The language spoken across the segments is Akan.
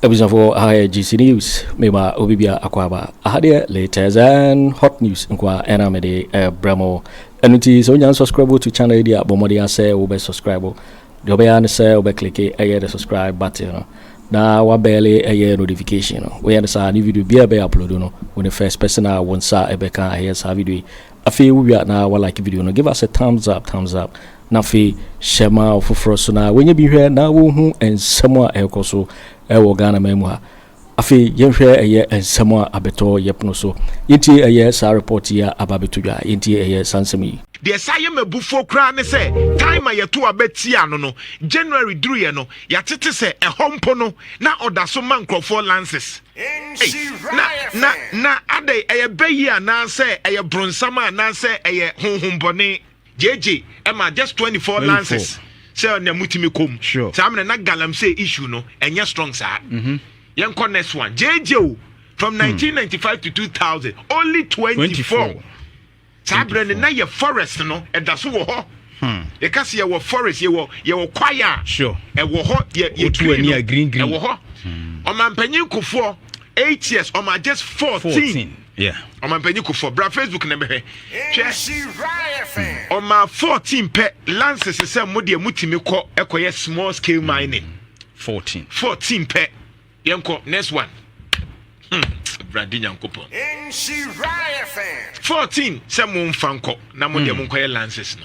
abusuafoɔ aha yɛ gc news mema obi bia akɔ aba aha deɛ latest and hot news nkoa ɛna mede ɛbrɛ mo ɛno nti sɛ wonya subscribe to channel yi deɛ bɔ mmɔden asɛ wobɛ subscribe Deɛ wobɛyɛ ara ne sɛ wobɛklike ɛyɛ the subscribe button no na wabɛɛle ɛyɛ notification no woyɛ no saa ne video biara ɛbɛyɛ upload no wo ne first person a wo nsa ɛbɛka ɛyɛ saa video yi afei wowia na walike video no give us a thumbs up thumbs up na afei hyɛ ma ɔfoforɔ so na wɔnyɛ bi hwɛ na wɔhu nsɛm a ɛrekɔ so ɛwɔ Ghana man mu ha Afei yɛnhwɛ ɛyɛ nsɛm a abɛtɔ yɛ pono so. Yɛntie ɛyɛ saa report yi a aba abɛto dwa. Yɛntie ɛyɛ saa nsɛm yi. Deɛ ɛsan yɛ me abufuo koraa ne sɛ time a yɛto aba tiaa no no, January duruiɛ no, yɛatete sɛ ɛhɔ mpo no na ɔda so ma nkurɔfoɔ lances. Ei, na, na, na adɛn, ɛyɛ bɛ yi anaasɛ ɛyɛ bronsam anaasɛ ɛyɛ honhombɔne? JJ ɛma just twenty four lances sɛ ɔna mutumi kɔm saa mena na galamsey issue no ɛnyɛ strong saa mhm. yɛnkɔ next one JJ o from 1995 hmm. to 2000 only 24 saa berɛ no na yɛ forest no ɛda so wɔ hɔ hmm. yɛka sɛ yɛwɔ forest yɛwɔ yɛwɔ kwaeɛ a ɛwɔ hɔ yɛ green no ɛwɔ hɔ hmm. ɔmampanyin kofoɔ eight years ɔma just fourteen Yeah. Ɔmampanyin Kufuor, bra Facebook na bɛhwɛ. Hwɛ. Hmm. Ɔma 14 pɛ lances sɛ mo deɛ motumi kɔ ɛkɔyɛ small scale mining. 14. 14 pɛ. Yɛnkɔ next one. Hmm. Bradi Nyankopɔn. 14 sɛ momfa nkɔ na mo deɛ hmm. monkɔyɛ lances no.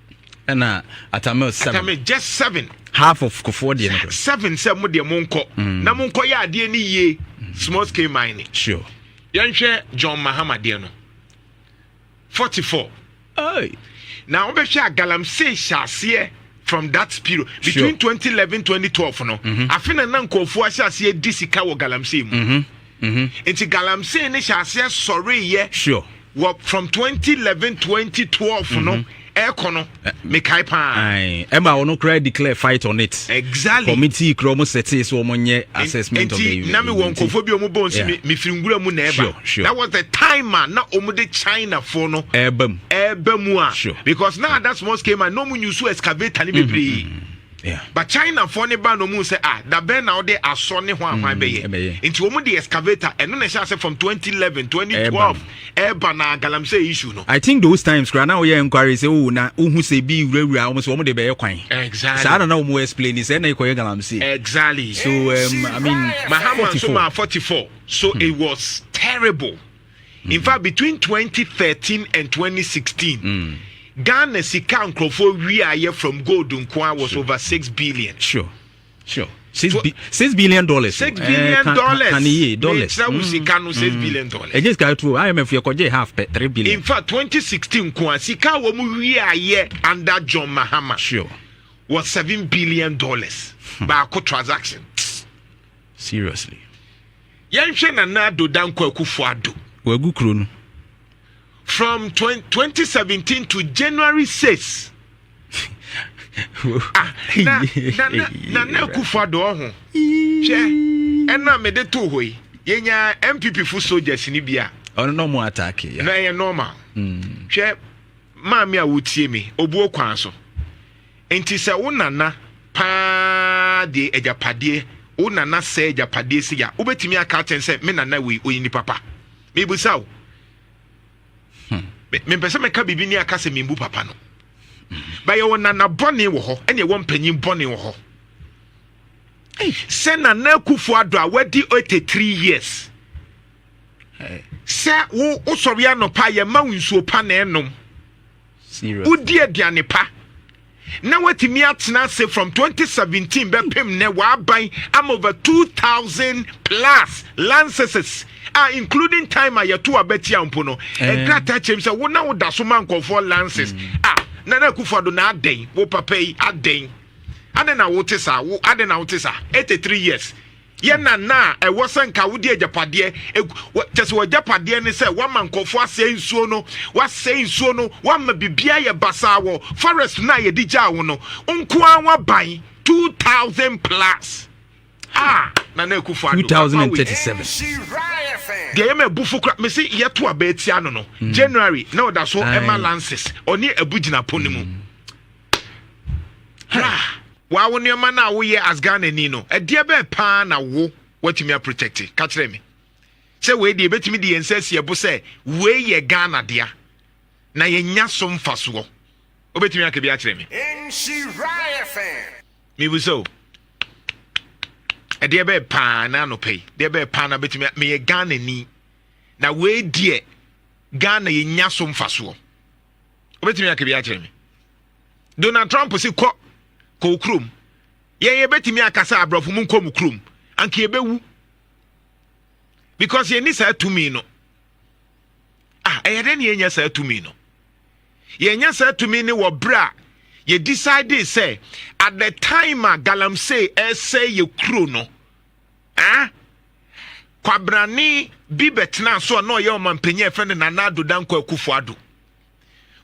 ɛna atamil seven atamil just seven half of kofoɔ deɛ no seven sɛ mo deɛ mo nkɔ mm. na mo nkɔ yɛ adeɛ no yie mm. small scale mining sure yɛnhwɛ john mahama deɛ no forty four na wobɛhwɛ a galamsey hyɛ aseɛ from that period between sure. 2011 2012 no mm-hmm. afe na na nkɔɔfoɔ ahyɛ aseɛ di sika wɔ galamsey mu mm-hmm. Nti galamsey no hyɛ aseɛ sɔreeɛ wɔ from 2011 2012 no ɛkɔ no mekae paa ɛma wɔn koraa declare fight on it exactly committee kura wɔn sɛte so wɔn nyɛ assessment of the nti na mi wɔ nkɔfo bi wɔn bɔ nsi mi mi firi nwura mu na ɛba that was the time a na wɔn de China fo no ɛɛba mu ɛɛba mu a because na ada small scale man na wɔn nyu so excavator ne bebree. But China foɔ no baa na ɔmu sɛ ah dabɛn na wode asɔ ne hwan hwan bɛyɛ nti wɔn de excavator ɛno na ɛhyɛ ase from 2011 2012 ɛɛba na galamsey issue no. I think those times kura na wɔyɛ enquiry sɛ o oh, na wohu sɛ bi wurawura wɔn so wɔn de bɛyɛ kwan. Exactly. Saa na na wɔn explain sɛ ɛna ekɔyɛ galamsey. Exactly. So um, I mean. Mahama nso maa 44 so mm. it was terrible. in fact between 2013 and 2016 mm. ghana sika nkurɔfoɔ wiaeɛ from gold nkoa was sure. over 6 billion sure sure six, bi six billion dollars. six eh, billion uh, dollars kan iye dollars. ne mm. sika no six mm. billion dollars. ɛjẹ sika tuo imf yɛ kɔjɛ half pɛ three billion. in fact twenty sixteen kun a sika wɔn mu wi ayɛ under john mahama. sure. wɔ seven billion dollars. Hmm. baako transaction. seriously. Yɛnhwɛ Nana Addo Dankwa Akufo Addo. Wagu kuro no. From 2017 to January 6. ah, na, na, na, Nana Akufo Addo ɔho. Hwɛ, ɛna mede to hɔ yi. Yɛnya MPP fo soldiers ni bi a. Ɔno na ɔmo atake. Na ɛyɛ normal. Hmm. Hwɛ, maame a wotie me, obuo kwan so. Enti sɛ wo nana paa deɛ agyapadeɛ, wo nana sɛɛ agyapadeɛ sei a, wobɛtumi aka akyɛn sɛ me nana wei ɔyɛ nipa pa? Mebusa wo. Hmm. Mempɛ sɛ mɛka biribi ne aka sɛ membu papa no. Ba yɛwɔ nana bɔne wɔ hɔ, ɛne ɛwɔ mpanyin bɔne wɔ hɔ. Sɛ nana akufo adɔ a wadi 83 years sɛ wo wosɔre anɔpa a yɛma wo nsuo pa na ɛnom wodi aduane pa na watumi atena ase from 2017 bɛpem nnɛ waban ama over 2000 plus lanceses a including time a yɛto abatia mpo no nkrataa kyerɛm sɛ wo na woda so ma nkɔfoɔ lances mm. a na na akufa do na adɛn wo papa yi adɛn adɛn na wote saa wo adɛn na wote saa 83 years Yɛ na na a ɛwɔ sɛ nka wode agyapadeɛ kyɛ sɛ w'agyapadeɛ ne sɛ woama nkurɔfoɔ asɛe nsuo no woasɛe nsuo no woama biribiara yɛ basaa wɔ forest no a yɛde gyaa wo no nko ara w'aban 2000 plus a Nana Akufo Addo 2037 deɛ yɛ ma abufo kora mese yɛto aba atia no no mm. January na ɔda so ɛma lances ɔne abu gyina po no mu mm. wa wo nneɛma no a woyɛ as ghanani no ɛdeɛ bɛɛ paa na wo watumi aprotɛkte ka kyerɛ me sɛ wei deɛ ɛbɛtumi de yɛn nsa asi ɛbo sɛ wei yɛ ghana dea na yɛnya so mfasoɔ wobɛtumi aka bi akyerɛ me mebu sɛ o ɛdeɛ bɛɛ paa na anɔpɛ yi deɛ bɛɛ paa na bɛtumi meyɛ ghanani na wei deɛ ghana yɛnya so mfasoɔ wobɛtumi aka bi akyerɛ me donald trump si kɔ kɔ wo kurom yɛn yɛbɛtumi akasa aborɔfo mu nkɔ mu kurom anka yɛbɛwu because yɛnni saa tumi no ah ɛyɛ dɛ ne yɛnya saa tumi no yɛnya saa tumi no wɔ berɛ a yɛ decide sɛ at the time a galamsey ɛsɛ yɛ kuro no Ɛɛ? Kwabrane bi bɛtenaa so a na ɔyɛ ɔmampanyin a ɛfɛ no Nana Addo Dankwa Akufo Addo.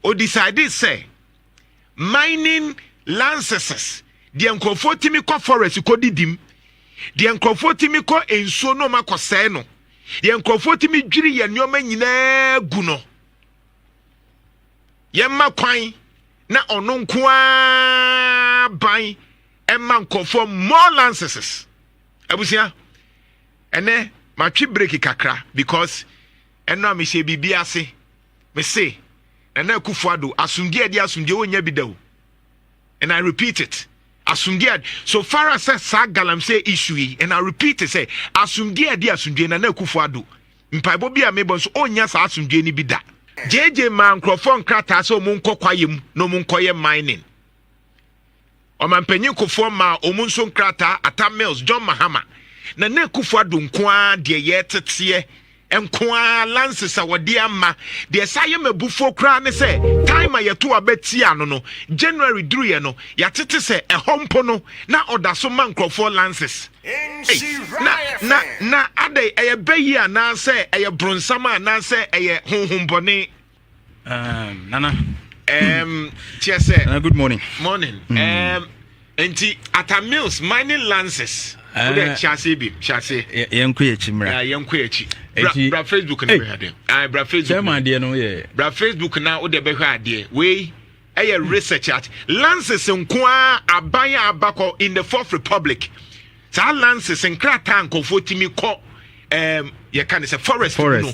Ɔdecidee sɛ mining lanceses deɛ nkurɔfoɔ tumi kɔ forest kɔ didim, deɛ nkurɔfoɔ tumi kɔ nsuo na wɔakɔsɛe no, deɛ nkurɔfoɔ tumi dwiri yɛn nneɛma nyinaa gu no, yɛmma kwan na ɔno nko ara ban ɛma nkɔfoɔ more lances abusua ɛnɛ matwe break kakra because ɛno a mehyɛ biribi ase mese nana akufo ado asomdie ɛde asomdie wɔnya bi da o and i repeat it asomdie so far as sɛ saa galamsey issue yi and i repeat it sɛ asomdie ɛde asomdie nana akufo ado mpaebɔ bi a mebɔ nso ɔnya saa asomdie no bi da gyegye maa nkurɔfoɔ nkrataa sɛ ɔmo nkɔ kwaeɛ mu na ɔmo nkɔyɛ mining Ɔmampanyin Kufuor maa wɔn nso nkrataa Atta Mills, John Mahama, na na Akufo Addo nko ara deɛ yɛteteɛ nko ara lances a wɔde ama. Deɛ saa yɛ mabufoɔ koraa ne sɛ time a yɛto aba tia no no, January duruiɛ no, yɛatete sɛ ɛhɔ mpo no na ɔda so ma nkurɔfoɔ lances. Na na na adɛn ɛyɛ bɛ yi anaasɛ ɛyɛ bronsam anaasɛ ɛyɛ honhombɔne? Um, Nana. Um, Chese. Nana, good morning. Morning. Mm. Um, nti ata mills mining lances eh. wode kyɛ ase bi hyɛ ase yɛnkɔ yɛkyi mmra yɛnkɔ yɛkyi bra facebook na bɛhwɛ adeɛ ah, bra facebook adeɛ no yɛ bra facebook na wode bɛhwɛ adeɛ wei ɛyɛ hmm. research at lances nko a aban a abakɔ in the fourth republic saa lances nkrataa nkɔfoɔ tumi kɔ yɛka ne sɛ forest no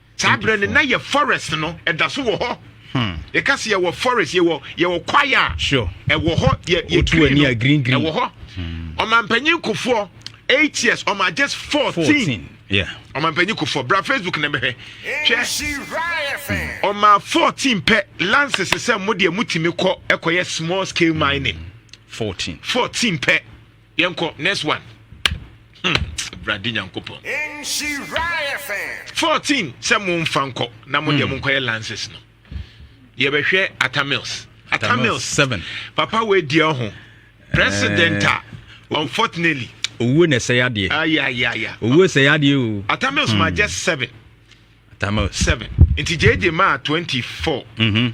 Saa berɛ no na yɛ forest no ɛda so wɔ hɔ. Hmm. Yɛka sɛ yɛwɔ forest yɛwɔ yɛwɔ kwaya a ɛwɔ hɔ yɛ yɛ green no ɛwɔ hɔ. Hmm. Ɔmampanyin kofoɔ eight years ɔma just fourteen. Ɔmampanyin kofoɔ bra Facebook na bɛhwɛ hwɛ ɔma fourteen pɛ lances sɛ mo deɛ mo tìmi kɔ ɛkɔyɛ small scale mining. Fourteen. Fourteen pɛ. yɛnkɔ next one hmm. awurade nyankopɔn 14 sɛ momfa nkɔ na mo deɛ hmm. monkɔyɛ lances no yɛbɛhwɛ atamils atamils 7 papa woadi ho president a eh. unfortunately owuo na ɛsɛ yadeɛ ayayaya ah, owuo sɛ yadeɛ o atamils ma hmm. just 7 atamils 7 nti gyegye maa 24 mm -hmm.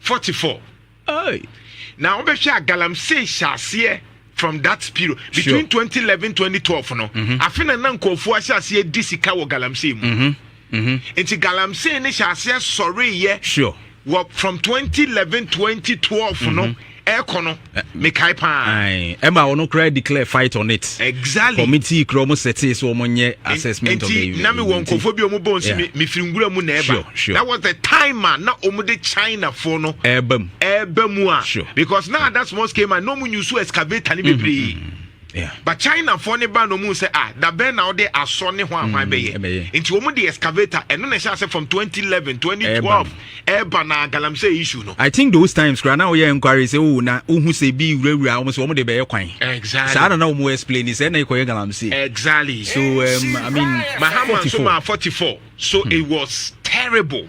forty four Hey. na wobɛhwɛ a galamsey hyɛ aseɛ from that period between sure. 2011 2012 no mm -hmm. afe na na nkurɔfoɔ ahyɛ aseɛ di sika wɔ galamsey mu mm -hmm. Mm -hmm. nti galamsey no hyɛ aseɛ sɔreyɛ sure. wɔ from 2011 2012 no ɛkɔ no mekae paa ɛma ɔno koraa declare fight on it exactly committee kura ɔmo sɛte sɛ ɔmo nyɛ assessment of the nti na mewɔ nkɔfoɔ bi ɔmo bɔ nso mefiri nwura mu na ɛba that was the time a na ɔmo de china foɔ no ɛba mu ɛba mu a because na ada small scale man na ɔmo nyusu excavator ne bebree mm-hmm. But China foɔ ne ba na ɔmu sɛ ah dabɛn na wode asɔ ne hwan hwan bɛyɛ nti wɔn de excavator ɛno na ɛhyɛ ase from 2011 2012 ɛɛba na galamsey issue no. I think those times kura na wɔyɛ enquiry sɛ o oh, na wohu sɛ bi wurawura wɔn so wɔn de bɛyɛ kwan. Exactly. Saa na na wɔn explain sɛ ɛna ekɔyɛ galamsey. Exactly. So um, I mean. Mahama nso maa 44 so mm. it was terrible.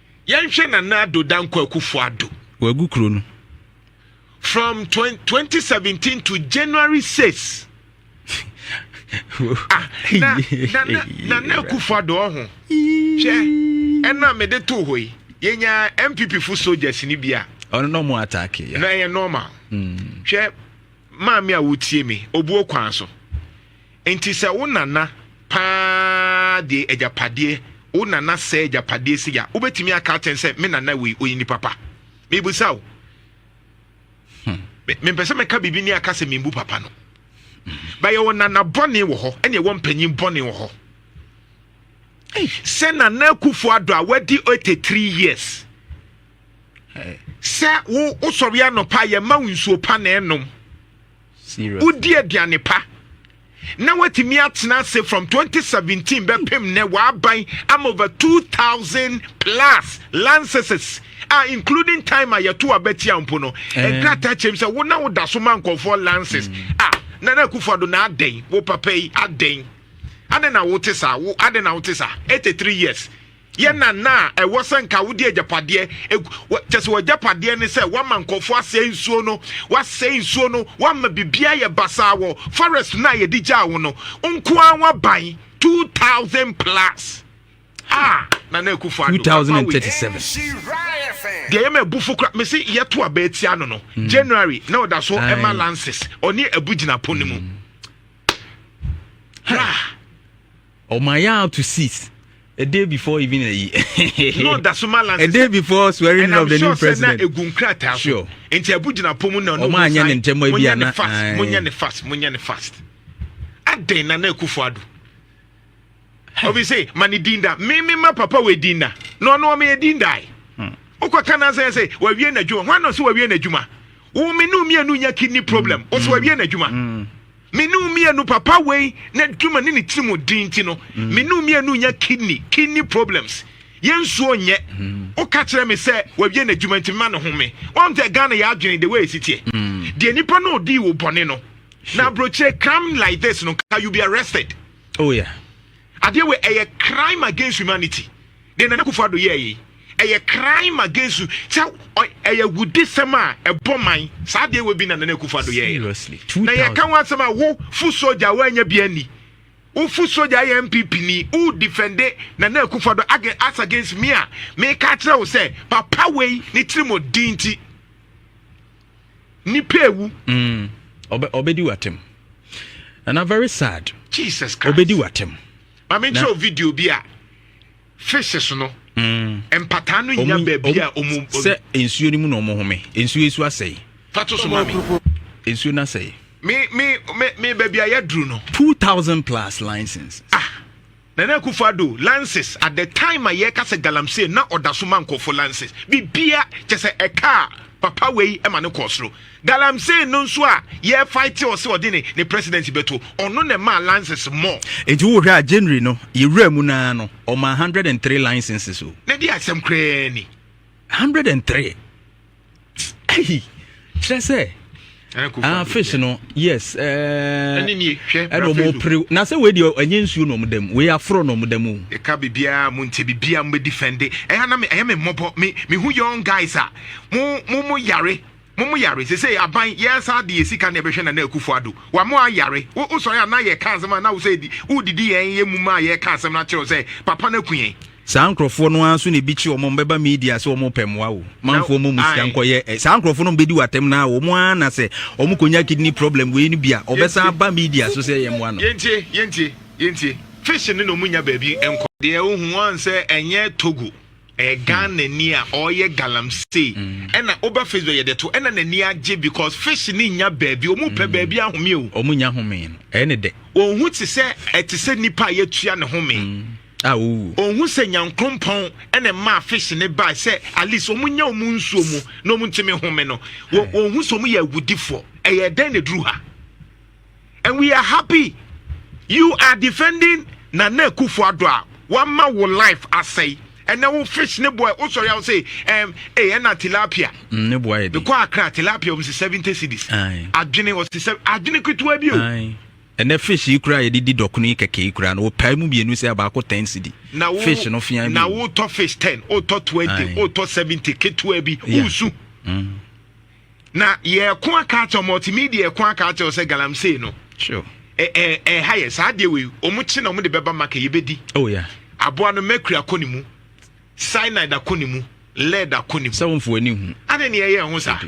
Yɛnhwɛ Nana Addo Dankwa Akufo Addo. Wagu kuro no. From 2017 to January 6. ah, na, na, na, Nana Akufo Addo ɔho. Hwɛ, ɛna mede to hɔ yi. Yɛnya MPP fo soldiers ni bi a. Ɔno na ɔmo ataake ya. Na ɛyɛ normal. Hmm. Hwɛ, maame a wotie me, obuo kwan so. Enti sɛ wo nana paa de agyapadeɛ, wo nana sɛe agyapadeɛ sei a, wobɛtumi aka akyɛn sɛ me nana wei ɔyɛ nipa pa? Mebisa wo. Hmm. Mempɛ sɛ mɛka biribi ne aka sɛ membu papa no. Ba yɛwɔ nana bɔne wɔ hɔ, ɛne ɛwɔ mpanyin bɔne wɔ hɔ. Sɛ nana akufo adɔ a wadi 83 years. sɛ wo wosɔre anɔpa yɛma wo nsuo pa na ɛnom wodi aduane pa na watumi atena ase from 2017 bɛpem nɛ waaban am over 2000 plus lanceses a including time a yɛto abatia mpo no eh. nkrataa kyerɛm sɛ wo na woda so ma nkɔfoɔ lances mm. a ah, na na akufo do na adɛn wo papa yi adɛn adɛn na wote saa wo adɛn na wote saa 83 years yɛ na na a ɛwɔ sɛ nka wode agyapadeɛ kyɛ sɛ w'agyapadeɛ ne sɛ woama nkɔfoɔ asɛe nsuo no woasɛe nsuo no woama biribiaa yɛ basaa wɔ forest no a yɛde gyaa wo no nko a woaban 2000 plus ah na na akufo ado 2037 deɛ yɛ ma abufo kora mese yɛto aba atia no no mm. january na ɔda so ɛma lances ɔne abu gyina po no mu mm. Oh my out to seas. A day before even a year. no, that's my last. A day before swearing in of the sure new president. And I'm sure that sure. And the Abu Jina Pomu na no. Oman yan and Temo Ibia na. Fast, munya ne fast, munya ne fast. A day na na kufuadu. Obi say, mani dinda, me me ma papa we dinda. No, no, me dinda. Okwa kana say say, we wie na juma. Wano so we wie na juma. Wo me ne wo mmienu nya kidney problem mm. ɔsɛ wawie n'adwuma mm. me ne wo mmienu papa wei n'adwuma ne ne tirim ɔdin nti no mm. me ne wo mmienu nya kidney kidney problems yɛnsuo nyɛ woka kyerɛ me sɛ wawie n'adwuma nti mema ne ho me wɔn sɛ ghana yɛ adwene de wɔyɛ siteɛ deɛ nipa no ɔdii wo bɔne no na aburokyire come like this no ka you be arrested oh yeah adeɛ wɔ ɛyɛ crime against humanity Deɛ Nana Akufo Addo yɛɛye ɛyɛ crime against you sɛ ɛyɛ awudisɛm a ɛbɔ man saa deɛ wɔ bi na Nana Akufo Addo yɛɛye no na yɛ ka ho asɛm a wo foot soldier a wanya bi anni wo foot soldier ayɛ MPP ni wo defende Nana Akufo Addo as against me a me ka kyerɛ wo sɛ papa wei ne tiri mo di nti nipa ewu ɔbɛdi mm, watem Nana very sad Jesus Christ ɔbɛdi watem maame nkyerɛ wo video bi a fishes no mm. mpataa no nya baabi a ɔmu sɛ nsuo no mu na ɔmo home nsuo esu asɛe fato so maame nsuo no asɛe me me me me baabi a yɛduru no two thousand plus license ah nana akufo ado lances at the time a yɛka sɛ galamsey na ɔda so ma nkɔfo lances bibia kyɛ sɛ ɛka a papa wei ma no kɔɔ soro Galamsey no nso a yɛ fight ɔse ɔde ne ne presidency bɛto ɔno na ɛmaa lances mɔ. Enti wo hwɛ a January no yɛ wura mu no ara no ɔmaa hundred and three licenses o. Na di asɛm koraa ni. Hundred and three. Ɛyi kyerɛ sɛ. Ah, fish no yes eh, ɛna ɔmo pere na sɛ wei deɛ ɛnyɛ nsuo na ɔmo dam wei aforo na ɔmo dam o. ɛka biribiara mo nkyɛ biribiara mo bɛdi fɛnde ɛha na ɛyɛ me mmɔbɔ me me hu young guys a mo mo mo yare Mo mo yare sesei aban yɛ saa de yɛ sika na yɛbɛhwɛ Nana Akufo Addo wa mo ayare wo wo sɔre a na yɛ ka asɛm a na wo sɛ di wo didi yɛn yɛ mum a yɛ ka asɛm no akyerɛw sɛ papa no aku yɛn. Saa nkorɔfoɔ no ara nso na ebi kye wɔn a wɔn bɛba media sɛ wɔn repɛ mmoa o. Manfoɔ mmɔ mo sika nkɔ yɛ ɛ. Saa nkorɔfoɔ no a wɔn bɛdi wo atɛm no ara wɔn ara na sɛ wɔn kɔ nya kidney problem wei no bi a wɔbɛ san aba media so sɛ yɛ mmoa no. Yɛntie yɛntie yɛntie. Fish no na wɔn nnya baabi nkɔ. Deɛ wo hu wɔn sɛ ɛnyɛ Togo. ɛyɛ ghana ni a ɔyɛ galamsey mm. ɛna woba facebook yɛde to ɛna n'ani agye because fish ni nya baabi ɔmu pɛ mm. baabi ahome o ɔmu nya home no ɛyɛ ne dɛ ɔhu te sɛ ɛte sɛ nipa a yɛtua ne home mm. a ɔwu ɔhu sɛ nyankoropɔn ɛna mmaa fish ne baa sɛ at least ɔmu nya ɔmu nsuo mu na ɔmu ntumi home no ɔhu sɛ ɔmu yɛ awudifoɔ ɛyɛ dɛn na ɛduru ha and we are happy you are defending nana akufo ado a wama wo life asɛe ɛnɛ wo fish ne boy wosɔre a wo se ɛm ee ɛna tilapia mm, ne boy yɛ de mekɔ akra tilapia wɔn si seventy cedis adwene wɔ si sɛ adwene ketewa bi o ɛnɛ fish yi kura yɛde di dɔkono yi kɛkɛ yi kura no wɔpae mu mmienu sɛ abaako ten cedi fish no fia bi na wotɔ fish ten wotɔ twenty wotɔ seventy ketewa bi wosu mm. Na yɛko aka akyɛw multimedia ɛko aka akyɛw sɛ galamsey no. Sure. ɛha yɛ saa adeɛ wei ɔmo kye na ɔmo de bɛba maka yɛbɛdi oh, yeah. aboa no mercury akɔ ne mu cyanide akɔ ne mu lead akɔ ne mu sɛ womfo ani hu ane ne ɛyɛ ho saa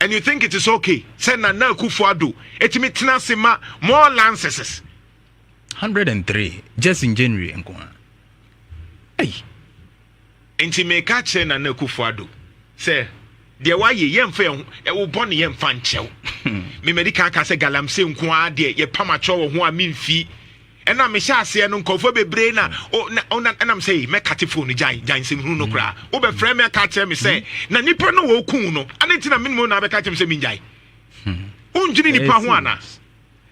and you think it is okay sɛ nana akufo ado ɛtumi tena ase ma more lances 103 just in january nko a hey. Enti meka akyerɛ Nana Akufo-Addo sɛ deɛ wayɛ yɛmfa yɛn ho wo bɔne yɛmfa nkyɛ wo. Hmm. Me madi kan ka sɛ galamsey nko ara deɛ yɛpam akyerɛ wɔ ho a memfi ɛna mehyɛ aseɛ no nkurɔfoɔ bebree na ɛnam sɛ mɛkate fo no gyan gyan nsɛm hunu no koraa hmm. wobɛfrɛ me aka kyerɛ me sɛ hmm. na nipa no wɔku no ade nti na menom na abɛka kyerɛ me sɛ mengyae wondwene nipa ho anaa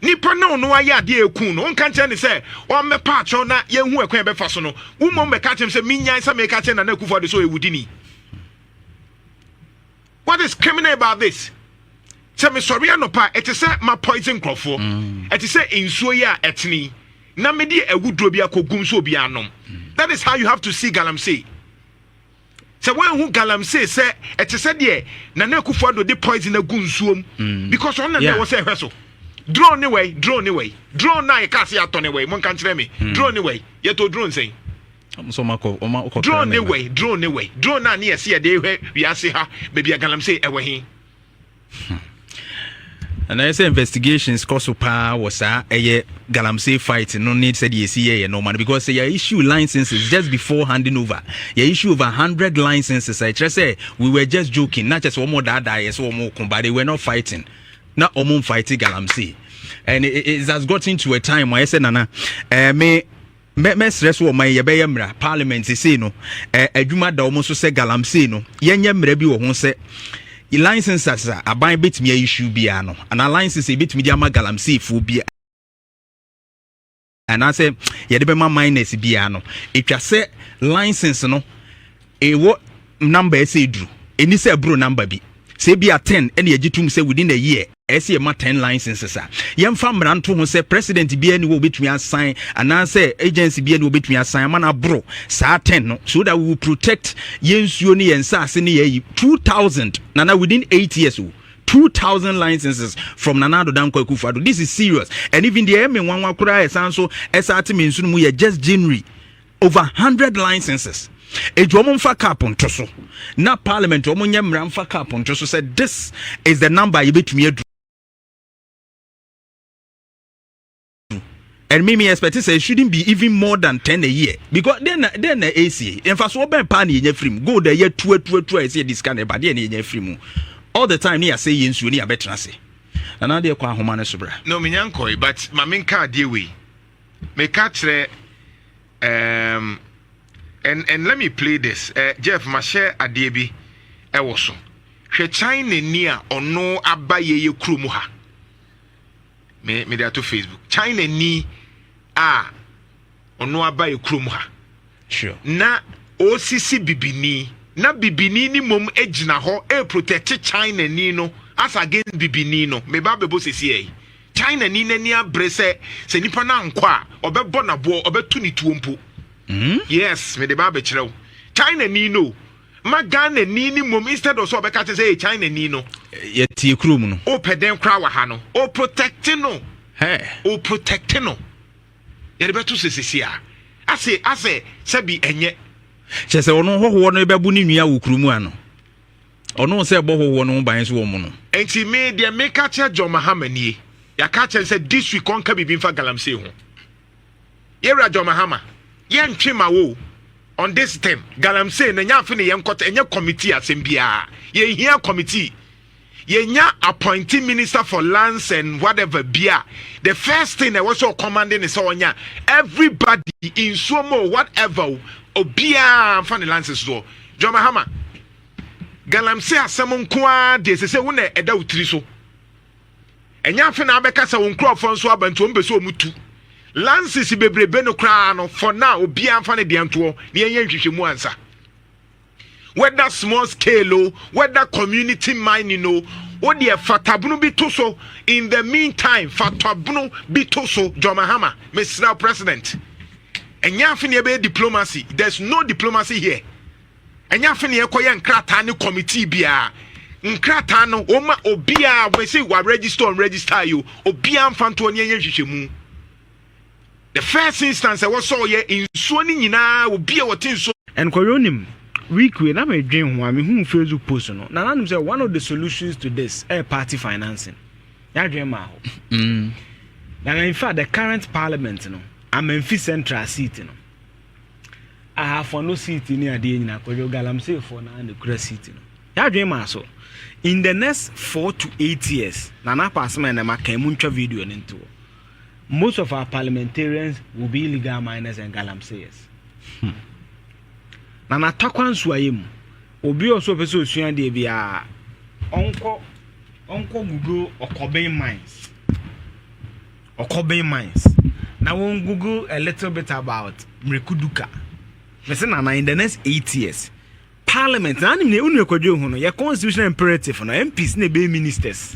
Nipa na ɔno ayɛ adeɛ a ɛkuu no, wonka nkyerɛ no sɛ ɔmmɛpa akyɛw na yɛnhu ɛkwan a yɛbɛfa so no. Wo mmom bɛka kyerɛ no sɛ mennyae sɛ mereka akyerɛ Nana Akufo-Addo sɛ ɔyɛ wudini. What is criminal about this? Sɛ mesɔre anɔpa, ɛte sɛ mapoison nkurɔfoɔ. Mm. Ɛte sɛ nsuo yi a ɛtene yi, na mede awuduro bi akɔgum sɛ obiara nom. Mm. That is how you have to see Galamsey. sɛ woanhu galamsey sɛ ɛte sɛ deɛ nana akufo ado de poison agu nsuom mm. because ɔno na ɛwɔ sɛ ɛhwɛ so drone ne wɛi drone ne wɛi drone na yɛka ase atɔ ne wɛi monka nkyerɛ me mm. drone ne wɛi yɛtɔ drone sɛn drone ne wɛi drone ne wɛi drone na ne yɛse yɛde hwɛ wiase ha baabi a galamsey ɛwɔ he ɛnna ɛsɛ investigations kɔ so paa wɔ saa ɛyɛ galamsey fight no ne sɛdeɛ ɛsi yɛyɛ nɔɔma no because yɛ issue licenses just before handing over yɛ issue over hundred licenses a ɛkyerɛ sɛ we were just joking na kyɛ sɛ wɔn daadaa yɛ sɛ wɔn ko but they were not fighting na wɔn fighting galamsey and it, it has gotten to a time wɔ ɛsɛ nana ɛɛ eh, me. Mɛ mɛsrɛ so ɔman yɛbɛyɛ mmara parliament sei no ɛ adwuma da wɔn so sɛ galamsey no yɛnyɛ mmara bi wɔ ho sɛ licenses a aban betumi ayi shoe biara no anaa licenses a ebetumi de ama galamseyfoɔ biara anaasɛ yɛde bɛma minors biara no etwa sɛ license no Ewo number a ɛsɛ eduru. Enni sɛ ɛboro number bi. Sɛ ebia ten na yɛgye tom sɛ within a year ɛsɛ yɛma ten licenses a, yɛmfa mmara nto ho sɛ president biara ni wɔ obetumi asan anaasɛ agency biara ni obetumi asan ama no aboro saa ten no so that we will protect yɛn nsuo ne yɛn nsaase ne yɛayi two thousand nana within eight years o. 2000 licenses from Nana Addo Dankwa Akufo-Addo. This is serious. And even the Eme Nwanwa Kura Esanso Esate Mensuno mu yɛ just January over hundred licenses eti wɔn nfa cap nto so na parliament wɔn nyɛ mmira nfa cap nto so sɛ this is the number yɛbɛtumi adu and me me expect sɛ it shouldn't be even more than ten a year because then then na esie nfasoɔ bɛn paa na yɛnya firi mu gold a yɛ tua tua tua ɛsɛ yɛ de sika na ɛba deɛ na yɛnya firi mu all the time ne yɛasɛ yɛ nsuo ne yɛabɛtena ase nana adeɛ kɔ ahoma no so bra. na ominya nkɔe but maame nka adeɛ wei meka kyerɛ um, and, and let me play this uh, jeff mahyɛ adeɛ bi ɛwɔ so hwɛ china ni a ɔno aba yɛyɛ kurom ha me mede ato facebook china ni a ɔno aba yɛ kurom ha Sure. Na ɔresisi bibini na bibini ni mmom gyina hɔ ɛreprotɛte china ni no as against bibini no meba bɛbɔ sisi ɛyi china ni n'ani abere sɛ sɛ nipa no ankɔ a ɔbɛbɔ n'aboɔ ɔbɛto ne tuo mpo mm? yes mede ba abɛkyerɛ wo china ni no ma ghana ni ni mmom instead of sɛ ɔbɛka kyerɛ sɛ ɛyɛ china ni no yɛtie kurom no wopɛ dɛn koraa wɔ ha no ɔprotɛte no ɔprotɛte no Yɛde bɛto sɛ sisi a. Ase asɛ sɛbi ɛnyɛ. Kyɛ sɛ ɔno hɔhoɔ no bɛbo ne nua wɔ kuro mu ano. Ɔno sɛ ɛbɔ hɔhoɔ no ho ban nso wɔ mo no. Nti me deɛ me ka kyerɛ John Mahama nie. Yɛaka akyerɛ no sɛ this week ɔnka biribi mfa Galamsey ho. Yɛwura John Mahama, yɛntwe ma wo o. On this thing, Galamsey no ɛnyɛ afe ne yɛnkɔt, ɛnyɛ committee asɛm biara. Yɛnhia committee. yɛnya appointing minister for lands and whatever bi a the first thing ɛwɔ sɛ ɔkɔmande ne sɛ ɔnya everybody nsuo mu whatever o obiara nfa ne lands soɔ John Mahama galamsey asɛm nko ara deɛ sɛ sɛ wo na ɛda wo tiri so ɛnyɛ afe na abɛka sɛ wo nkurɔfoɔ nso aba nti wɔn bɛ sɛ wɔn tu lances bebrebe no koraa no for now obiara nfa ne deɛ ntoɔ ne yɛnyɛ nhwehwɛ mu ansa. whether small scale o whether community mining o wo deɛ fatabunu bi to so in the meantime fatabunu bi to so John Mahama mesrɛ president ɛnyɛ afe ne ɛbɛyɛ diplomacy there's no diplomacy here ɛnyɛ afe ne ɛkɔyɛ nkrataa ne committee biara nkrataa no wɔma obiara wɔsi wa register on register yi o obiara mfa ntoɔ ne ɛnyɛ nhwehwɛmu The first instance ɛwɔ sɛ ɔyɛ nsuo no nyinaa obi a ɔte nsuo. Nkɔyɛ onim week wei na me dwen ho a me hu facebook post no na na nim sɛ one of the solutions to this ɛyɛ eh, party financing yadwen maa hɔ mm. na in fact the current parliament no amanfi central seat no ahafo no seat ne adeɛ nyina kɔyɛ galamsey fo na ne kura seat no yadwen maa so in the next four to eight years na na pass me na ma kan mu ntwa video no ntoɔ Most of our parliamentarians will be illegal miners and galamseyers. Hmm. Na natakwa nsuayɛ mu, obi a ɔsɛ ɔpɛ sɛ osua adeɛ biara, ɔnkɔ ɔnkɔ google ɔkɔben mines. Ɔkɔben mines. Now we'll google a little bit about Mrekuduka. Mese Nana, in the next eight years, Parliament na anim ne wo nua kwadwo ho no yɛ constitutional imperative no MPs na ɛbɛyɛ ministers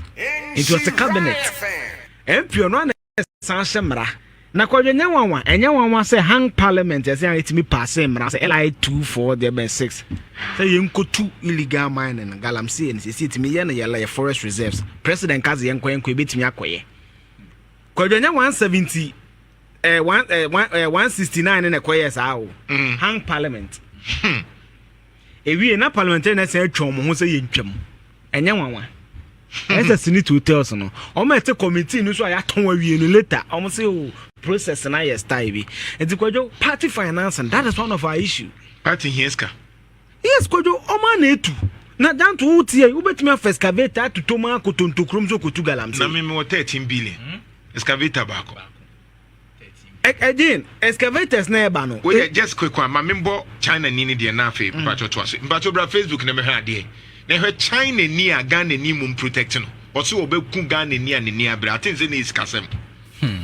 nti ɔte cabinet MP ɔno ana ɛsan hyɛ mmara na kwadwo nyɛ nwanwa ɛnyɛ nwanwa sɛ hang parliament ɛsɛ a ɛtumi paase mmara sɛ LI 24 deɛ bɛn 6 sɛ yɛnkɔtu illegal mining no galamsey no sɛsi ɛtumi yɛ no yɛla yɛ forest reserves president ka sɛ yɛnkɔ yɛnkɔ yɛbɛtumi akɔyɛ kwadwo nyɛ 170 eh, one, eh, one, eh, 169 ne na ɛkɔyɛɛ saa o mm. hang parliament hmm. ewie na parliamentary na ɛsɛ atwa wɔn ho sɛ yɛntwam ɛnyɛ nwanwa hmm. ɛsɛ senate hotels no wɔn ɛte committee no so a yɛatɔn awie no later wɔn sɛ o oh, process na yɛ style bi nti kwadwo party finance that is one of our issue party hia sika Yes Kojo, ɔmo a na etu. Na Danto wo tie yi, wobɛtumi afa excavator atotɔ mu akɔ Tontokurom so kɔtu galamsey. Na me mewɔ thirteen billion, excavator baako. Ɛ again, excavators na ɛba no. Wei deɛ just quick one, ma me mbɔ China ni no deɛ na afei mpatsɔ toa so. Mpatsɔ bra Facebook na mɛhwɛ adeɛ. Na hwɛ China ni a Ghana ni mmom protect no. Ɔse ɔbɛku Ghana ni a n'ani abere. I think sɛ na ɛyɛ sikasɛm. Hmm.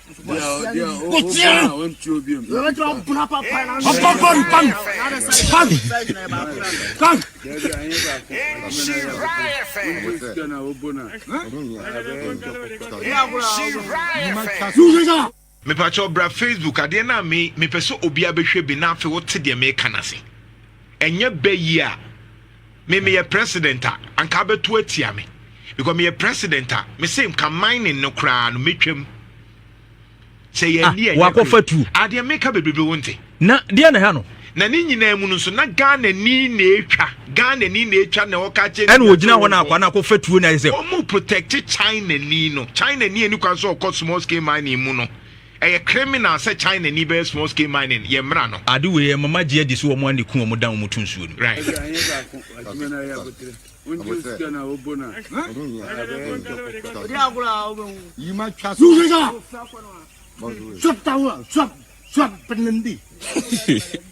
mepakyɛw bra facebook adeɛ no a me mepɛ sɛ obiara bɛhwɛ bi na afei wote deɛ meka no ase ɛnyɛ bɛ yi a me meyɛ president a anka abɛto atia me because meyɛ president a me se nka mining no koraa no metwam sɛ yɛ ah, ni ɛnyɛ wakɔfa tu adeɛ ah, meka bebrebe wo nte na deɛ na ha no na ne nyinaa mu no nso na ghana ni na etwa ghana ni na etwa na ɔka kyɛ ɛna ogyina hɔ na akwa na akɔfa tuo na ɛsɛ wɔn mu protect china ni no china ni ani kwan so ɔkɔ small scale mining mu no. Ɛyɛ criminal sɛ China ni bɛyɛ small scale mining yɛ mmra no. Ade wei ɛma ma gye adi sɛ wɔn ara na ɛku wɔn dan wɔn to nsuo no mu. Right.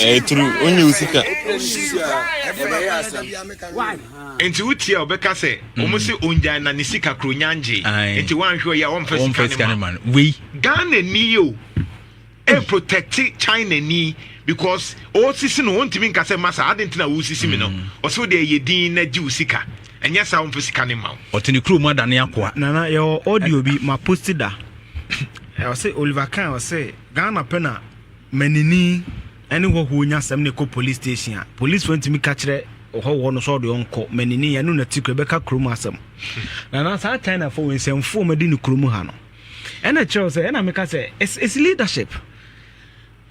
ɛyɛ turu onye wo sika nti wotie a ɔbɛka sɛ ɔmo mm. sɛ ongyae na ne sika kuro nyangye nti woanhwɛ ɔyɛ a ɔmfa sika ne ma wei ghana ni o e protect China ni because ɔresisi no ɔntumi nka sɛ masa adi nti na ɔresisi mi no mm. ɔsɛ ɔde ɛyɛ din na gye wo sika ɛnyɛ saa ɔmfa sika ne ma wo. ɔte ne kurom ada ne akoa. nana yɛwɔ audio bi ma posti da ɔsɛ Oliver Khan ɔsɛ Ghana pɛ na manini ɛne hɔhoɔ nya asɛm ne kɔ police station a police fo ntumi ka kyerɛ ɔhɔhoɔ no sɛ ɔde ɔnkɔ manini ɛno na ti kura bɛka kurom asɛm nana saa China fo nsɛmfoɔ ma di ne kurom ha no. Ɛna kyerɛw sɛ ɛna meka sɛ it's it's leadership.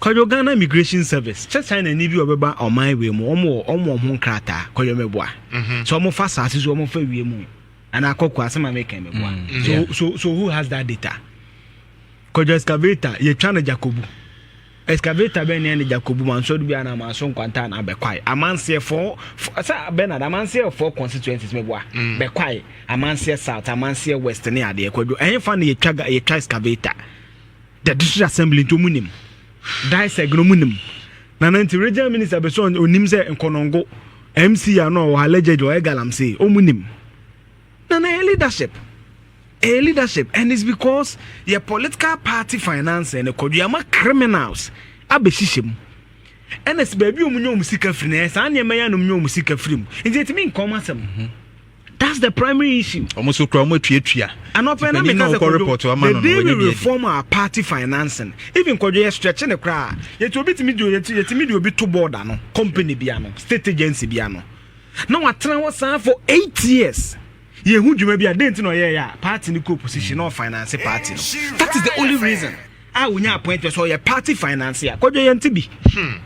Kwadwo Ghana Immigration Service kyɛ China ni bi ɔbɛba ɔman wei mu wɔn wɔ wɔn wɔ wɔn nkrataa kwadwo mɛboa. Mhm. So wɔn fa saase so wɔn fa wie mu ana akɔkɔ asɛm a mɛka mɛboa. Mm, so so so who has that data? Kwadwo excavator yɛtwa no Jacobu. Excavator bɛn ne ɛne Jacob Buma nsɔre bi anaa maa so nkwanta anaa bɛkwae amanseɛ fɔ sɛ Bernard amanseɛ fɔ constituencies mɛboa mm. bɛkwae amanseɛ south amanseɛ west ne adeɛ kwadwo ɛhe fa no yɛtwa yɛtwa excavator the district assembly nti ɔmu nim diseg no ɔmu nim nana nti regional minister bɛ so ɔnim sɛ nkɔnɔngo mc a na ɔwɔ ha legend ɔyɛ galamsey ɔmu nim Na na ɛyɛ leadership ɛyɛ leadership and it's because yɛ political party finance ɛna kɔdua ma criminals abɛhyehyɛ mu ɛna si baabi ɔmu nyɛ ɔmu sika firi na yɛ saa nneɛma yɛ anum nyɛ ɔmu sika firi mu nti ɛtumi nkɔn mu asɛm. Mhm. That's the primary issue. Ọmọ so kura ọmọ etuatua. Anọpẹ na mi kasa kodo the day we reform our party financing even kodo yẹ stretch ne kura yẹtu obi tumi di yẹtu yẹtumi di obi to board ano company bi ano state agency bi ano. Na watena hɔ saa for eight years. Yɛhu dwuma bi a, dɛn nti na ɔyɛeɛ a party no kɔɔ position na ɔfinance party no? That is the only reason a wɔnya appointment sɛ ɔyɛ party financier. Kwadwo yɛnte bi. Hmm.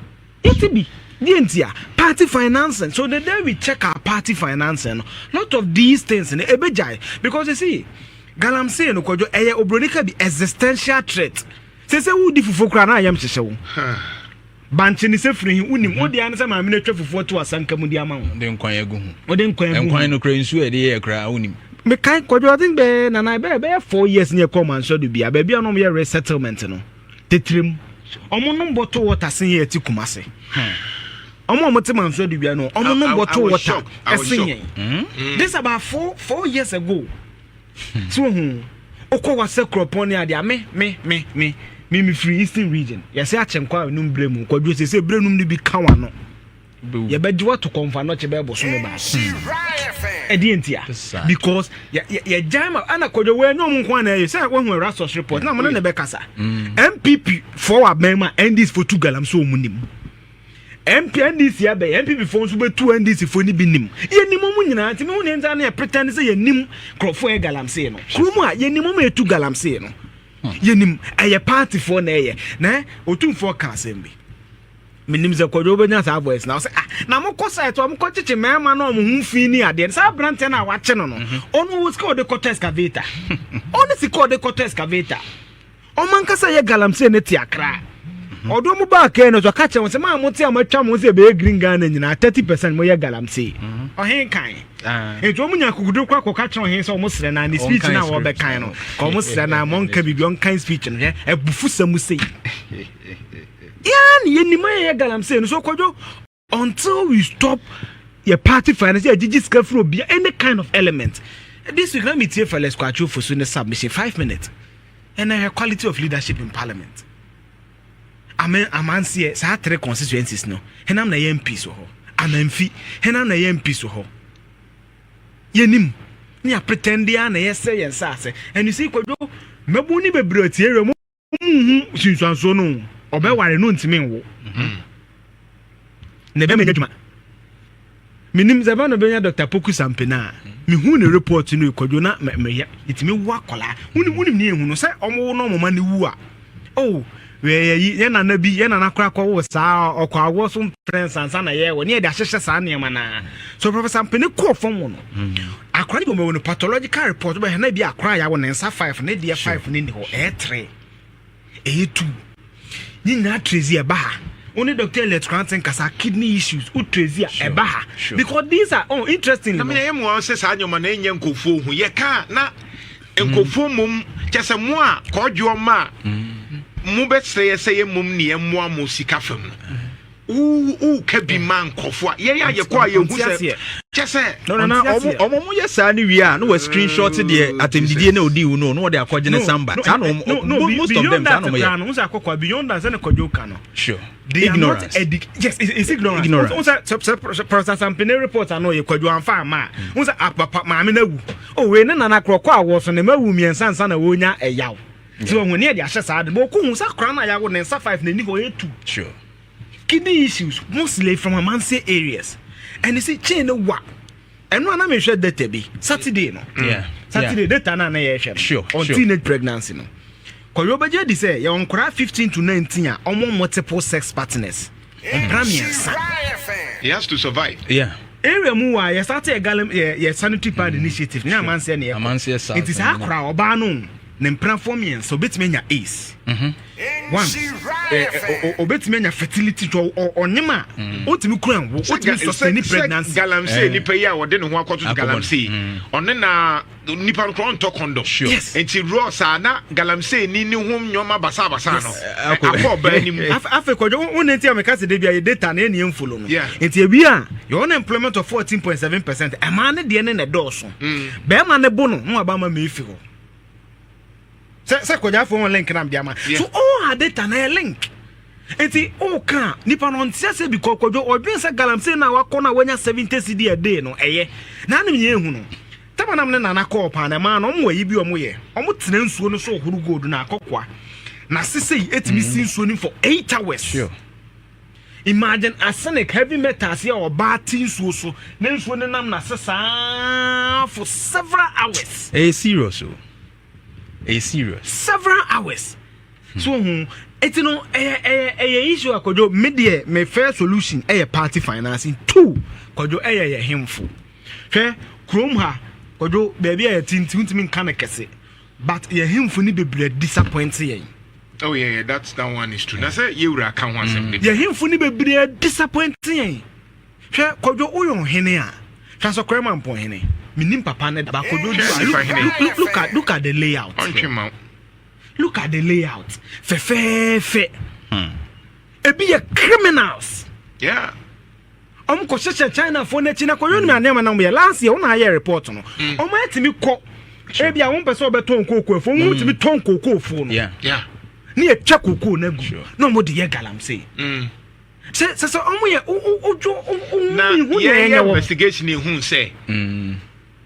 Yɛnte bi. Deɛ nti a party financing. So the day we check our party financing no, lot of these things no ɛbɛgyae because you see galamsey no kwadwo ɛyɛ obroni ka bi existential threat. Sɛ sɛ wodi fufuo koraa na ayam hyehyɛ wo. Bankye ne sɛ firi he wonim. Wo deɛ ne sɛ maame no atwa fufuo ato asanka mu de ama wo. Wode nkwan agu ho. Wode nkwan agu ho. Nkwan no kora nsuo a yɛde yɛɛ koraa wonim. Mekae kwadwo I think bɛɛ nana bɛɛ bɛyɛ four years ne yɛkɔɔ Mansoa do bia baabi a na wɔyɛ resettlement no titire mu. Wɔn nom bottle water sen yɛn ti Kumasi. Wɔn a wɔte Mansoa do bia no wɔn nom bottle water sen yɛn. This about four four years ago. So wohu? Wokɔ hɔ sɛ kuropɔn ne adeɛ a me me me me me mefiri eastern region yɛsɛ akyɛnkwa a ɛnum berɛ mu kwadwo sɛ sɛ berɛ num no bi ka wano yɛbɛgye wato kɔmfa nɔkye bɛyɛ boso me baa ɛdeɛ nti a because yɛgyae ma ana kwadwo wɔ ɛnyɛ ɔmo nko ana ɛyɛ sɛ woahu ɛrasɔs report na ɔmo ne ne bɛkasa mpp fɔ wɔ abɛn mu a ndis fo tu galam so ɔmo nim MPNDC abɛn NPP fo nso bɛtu NDC fo ni bi nim yɛnim ɔmo nyinaa nti mehu ne nsa no yɛ pretend sɛ yɛnim nkurɔfoɔ yɛ galamsee no kuro mu a yɛnim ɔmo ɛtu galamsee no hmm. yɛnim ɛyɛ partyfoɔ na ɛyɛ na ɔtumfoɔ ka asɛm bi menim sɛ kwadwo wobɛnya saa voice na sɛ ah, na mokɔ site a mokɔ kyekye mmarima na ɔmo ho fi ne adeɛ saa aberanteɛ no a wakye no no mhm. ɔno wɔ sika ɔde kɔtɔ excavator ɔne sika ɔde kɔtɔ excavator Wɔn ankasa yɛ galamsey ne teakra. Ɔdɔ mu baa kɛɛ no so ɔka kyerɛ wɔn sɛ maa mo te a matwa mo sɛ ɛbɛyɛ green Ghana nyinaa thirty percent mo yɛ galamsey. Mhm. Ɔhen kan. Ah. Nti wɔn nya kukudu kɔ akɔka kyerɛ ɔhen sɛ wɔn srɛ na ne speech na wɔbɛkan no. Ka wɔn srɛ na wɔn nka biribi wɔn kan speech no hwɛ ɛbufu sɛ mo sei. Yaa ne yɛ nim ayɛ yɛ galamsey no so kɔdwo. Until we stop yɛ party finance yɛ gyigyi sika firi obi any kind of element this week na mi tie Felix Kwakye Ofosu ne submission five minutes ɛnna ɛhwɛ quality of leadership in parliament amen amanseɛ saa three constituencies no henam na ɛyɛ mps wɔ hɔ amanfi henam na ɛyɛ mps wɔ hɔ yɛnim ne apretɛnde a na yɛsɛ yɛn nsa ase and you see kwadwo mmabu ne bebree ɔtie wɔ mu. nhu sunsuansoɔ no ɔbɛware no ntumi nwo mm-hmm. na ɛbɛma nya dwuma menim sɛ bɛ no bɛnya dr poku sampena a mehu ne report no ɛkwadwo na meyɛ ɛtumi wo akɔlaa wonim wonim ne ɛhu no sɛ ɔmowo no ɔmoma no wu a oh yɛyi yɛ nana bi yɛ nana kora kɔ wɔ saa ɔkɔ awoɔ so mprɛnsa nsa na yɛwɔ ne yɛde ahyehyɛ saa nneɛma no a so professor mpene kɔɔ fam wɔ no Akora no bi wɔn no pathological report bɛhwɛ na ebi akora a yɛawo ne nsa five ne deɛ five ne ni hɔ ɛyɛ three ɛyɛ two ne nyinaa trezi ɛba ha only doctor elect kranten kasa kidney issues o trezi a ɛba ha because these are oh interesting. na mi na yɛ mu wɔn sɛ saa nneɛma na ɛnyɛ nkurɔfoɔ ho yɛ kaa na nkurɔfoɔ mmom kyɛ sɛ mo a kɔɔdwoɔ ma a mo bɛsrɛ yɛ sɛ yɛ mmom ne yɛ mmoa mo sika fam no. woka bi ma nkɔfo a yɛn a yɛkɔ a yɛhu sɛ kyɛ sɛ ɔmo mo yɛ saa no wie a na wɔ screen shot deɛ mm, atɛmdidie na ɔdii wo no na wɔde akɔgye ne samba saa na ɔmo most of them saa na ɔmo yɛ. no sɛ akɔkɔ beyond that sɛne kɔdwo ka no sure ignorance yes it's ignorance ignorance n sɛ sɛ pɔrɔsasampene report ano yɛ kɔdwo anfa ama a n sɛ apapa maame no awu o wei ne nana korɔkɔ a wɔso ne ma awu mmiɛnsa nsa na wɔnya ɛyaw Nti wɔn ani ɛde ahyɛ saa de bɔ ɔkɔ hu sɛ akora no a yawo ne nsa five na ɛni hɔ ɛtu kidney issues mostly from amanse areas ɛne sɛ chain no wa ɛno ana mehwɛ data bi saturday no yeah. saturday yeah. data no ana yɛhwɛ no sure. on sure. teenage pregnancy no kɔyɛ ɔbɛgye di sɛ yɛwɔ nkora 15 to 19 a ɔmo multiple sex partners mpra mmiɛnsa he has to survive yeah area mu wa yɛ start yɛ galam yɛ yɛ sanitary pad initiative ne amanseɛ ne yɛ kɔ nti saa akora ɔbaa no ne mpenafoɔ mmiɛnsa obetumi anya ace mhm. one obetumi anya fertility twɛ ɔnyem a mm. otumi kura nwo otumi sustain pregnancy. galamsey eh. nipa yi a ɔde ne ho akɔto to galamsey mm. ɔne na nipa no kura ɔntɔ condom nti rɔ saa na galamsey ni ne ho nneɛma basabasa no eh, akɔ ɔbaa anim. afei kɔjɔ wo ne nti a meka se de bi a yɛ data na ɛni ɛnfolo no nti ebi a yɛ unemployment of fourteen point seven percent ɛmaa ne deɛ ne na ɛdɔɔso mm. bɛrima ne bo no na waba ama ma efi hɔ. sɛ sɛ kɔgyafo wɔn link na mde ama so all her data na yɛ link nti woka nipa no ɔnteɛ sɛ bi kɔkɔdwo ɔdwen sɛ galamsey no a wakɔ no a wanya 70 cd a day no ɛyɛ na anem yɛ ehu no tama nam ne nana kɔɔ paa na ɛmaa no ɔmo ayi bi ɔmo yɛ ɔmo tena nsuo no so ɔhoro gold na akɔkoa na sesei etumi si nsuo no for eight hours sure. Imagine arsenic, heavy metals a ɔbaa te nsuo so na nsuo no nam n'ase saa for several hours. Ɛyɛ serious o. Ɛyɛ serious. Several hours. Hmm. So hu eti no ɛyɛ ɛyɛ ɛyɛ issue akɔdwo me deɛ me first solution ɛyɛ party financing two kɔdwo ɛyɛ yɛ hemfo hwɛ kurom ha kɔdwo baabi a yɛte nti ntumi nka no kɛse But yɛn hemfo no bebree disappoint yɛn. Oh yeah, yeah, that's that one is true. Na sɛ yɛwura ka ho asɛm mm. de. Yɛn hemfo no bebree disappoint yɛn. Hwɛ kɔdwo woyɛ ɔhene a, hwɛ sɛ kɔrɛ ma mpɔn hene. Menim papa ne da. Ba kɔdwo du a, look, look, look, at, look at the layout. Ɔntwe ma. Look at the layout. Fɛfɛɛfɛ. Hmm. Ebi yɛ criminals. Yeah. wɔn kɔ hyehyɛ chinafoɔ no akyi na kɔ yɔnum adeɛ ma na wɔn yɛ last year wɔn na ayɛ report no mm. wɔn atumi kɔ ebi a wɔn pɛ sɛ wɔbɛtɔn kookoo efuo wɔn tumi tɔn kookoo fuo no ne yɛ twa kookoo no agu na wɔn de yɛ galamsey mm. sɛ sɛ sɛ wɔn yɛ odwo wɔn ihu yɛ yɛ wɔ investigation ehu sɛ. Mm.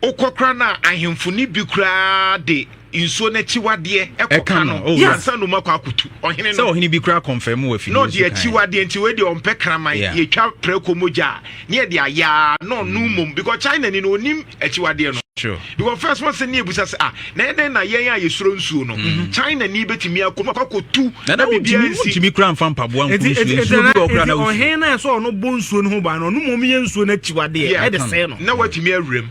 Wokɔ koraa no a, ahemfo no bi koraa de nsuo no akyiwadeɛ kɔka no ansa na wɔakɔ akɔtu ɔhene no. Sɛ ɔhene bi koraa kɔnfɛm wɔ afidie no so kan. Na ɔde akyiwadeɛ nti wei deɛ ɔmpɛ kraman, yɛtwa prako mogya a, na yɛde ayɛ ara na ɔnom mmom because Chinani no ɔnnim akyiwadeɛ no. True. Because first wɔn sɛ ne yɛbisa sɛ ah, Na ɛdɛn na yɛn a yɛsuro nsuo no, mm. China ni bɛtumi akɔ mu akɔkɔtu na biribiara nsi. Ntumi kura nfa mpaboa nkuru nsuo nsuo bi ɔkura na wusu. Ɔhen na ɛsɛ ɔno bɔ nsuo no ho ban no ɔno mu ɔmyɛ nsuo no akyiwadeɛ ɛde sɛɛ no. Na watumi awura mu.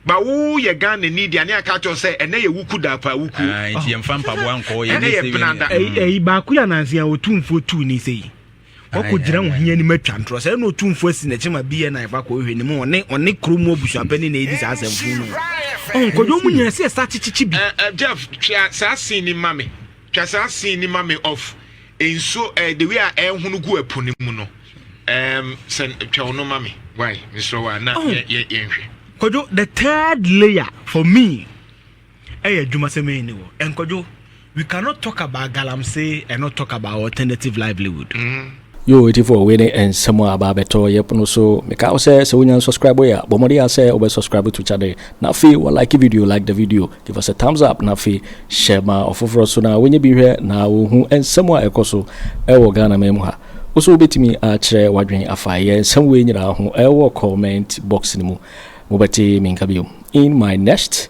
Ba wo yɛ Ghana ni deɛ ne aka kyerɛ sɛ ɛnɛ yɛ wuku da pa wuku. Ah, nti yɛn fa mpaboa nkɔ yɛ ne sɛ yɛ. Ɛyi baako yɛ anansi a otumfuo tu ni sɛ yi. Wakɔgyina wo he anim atwa ntorɔ sɛ ɛna ɔtumfoɔ asi n'akyi ma BNI fa kɔhwehwɛ ne mu ɔne ɔne kuro mu abusuapɛni na ɛdi saa asɛmfo no ɔnkɔdwa mu nyina sɛ ɛsa kyekyekye bi Jeff twa saa scene ni ma me twa saa scene ni ma me of nsuo eh, the way a ɛhono gu ɛpo no mu no um, sɛ twɛw no ma me why mesrɛ wo a na yɛnhwɛ kɔdwo the third layer for me Ɛyɛ adwuma sɛ mɛyi ne wɔ. Nkɔdwo, we cannot talk about galamsey and not talk about alternative livelihood. Mm. Yoo atifoɔ wei ne nsɛm a aba abɛtɔ yɛpo no so meka wo sɛ sɛ wonya nsubscribe yɛ a bɔ mmɔden ara sɛ wobɛ subscribe to channel na afei wa like video like the video give us a thumbs up na afei hyɛ ma ɔfoforɔ nso na wɔnyɛ bi hwɛ na wɔhu nsɛm a ɛkɔ so ɛwɔ Ghana man mu ha wo so wobɛtumi akyerɛ wadwen afa yɛ nsɛm wei nyinaa ho ɛwɔ comment box no mu mobɛte menka bio in my next